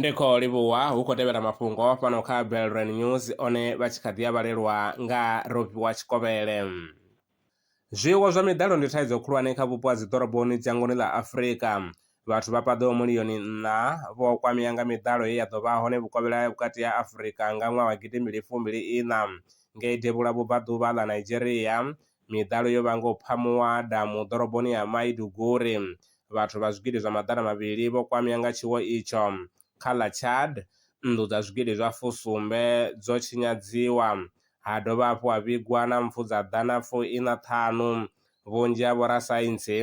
ndi khou livhuwa hu khou tevhela mafhungo fhano kha belran news one vha tshi kha ḓi a vhalelwa nga rofhiwa tshikovhele zwiwo zwa miḓalo ndi thaidzo khulwane kha vhupo ha dziḓoroboni dzhangoni ḽa afurika vhathu vha paḓaho miliyoni nṋa vho kwamea nga miḓalo ye ya ḓo vha hone vhukovhela vhukati ha afurika nga ṅwaha wa gidimbili fumbili iṋa ngei devhula vhubvaḓuvha ḽa nigeria Miḓalo yo vhanga u phamuwa ha damu ḓoroboni ya Maiduguri. Vhathu vha zwigidi zwa maḓana mavhili vho kwamea nga tshiwo itsho. Kha ḽa Chad, nnḓu dza zwigidi zwa fusumbe dzo tshinyadziwa, ha dovha hafhu ha vhigwa na mpfu dza ḓana fu iṋa ṱhanu. Vhunzhi ha vhorasaintsi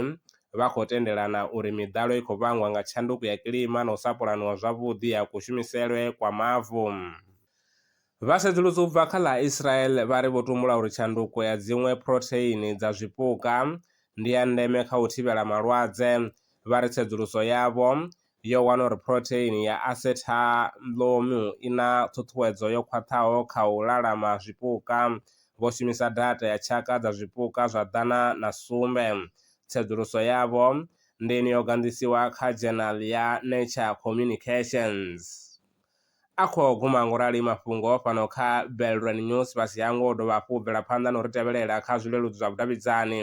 vha khou tendelana uri miḓalo i khou vhangwa nga tshanduko ya kilima na u sa pulaniwa zwavhuḓi ha kushumiselwe kwa mavu. Vha sedzulusa u bva kha ḽa Israel vha ri vho tumbula uri tshanduko ya dziṅwe phurotheini dza zwipuka ndi ya ndeme kha u thivhela malwadze. Vha ri tsedzuluso yavho yo wana uri phurotheini ya acetalomu i na ṱhuṱhuwedzo yo khwaṱhaho kha u lalama zwipuka. Vho shumisa data ya tshaka dza zwipuka zwa ḓana na sumbe. Tsedzuluso yavho ndi ine yo ganḓisiwa kha dzhenali ya Nature Communications. A khou guma nga u rali mafhungo fhano kha Belrand News fhasi ha ngoho u dovha hafhu u bvela phanḓa na u ri tevhelela kha zwileludzi zwa vhudavhidzani,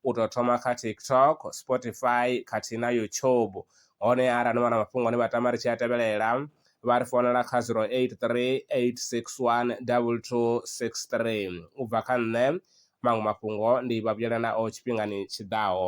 u tou thoma kha TikTok, Spotify khathihi na YouTube. Hone arali ni vha na mafhungo ane vha tama ri tshi a tevhelela, vha ri founela kha 0838612263. U bva kha nṋe, maṅwe mafhungo ndi vha vhuyela nao tshifhingani tshi ḓaho.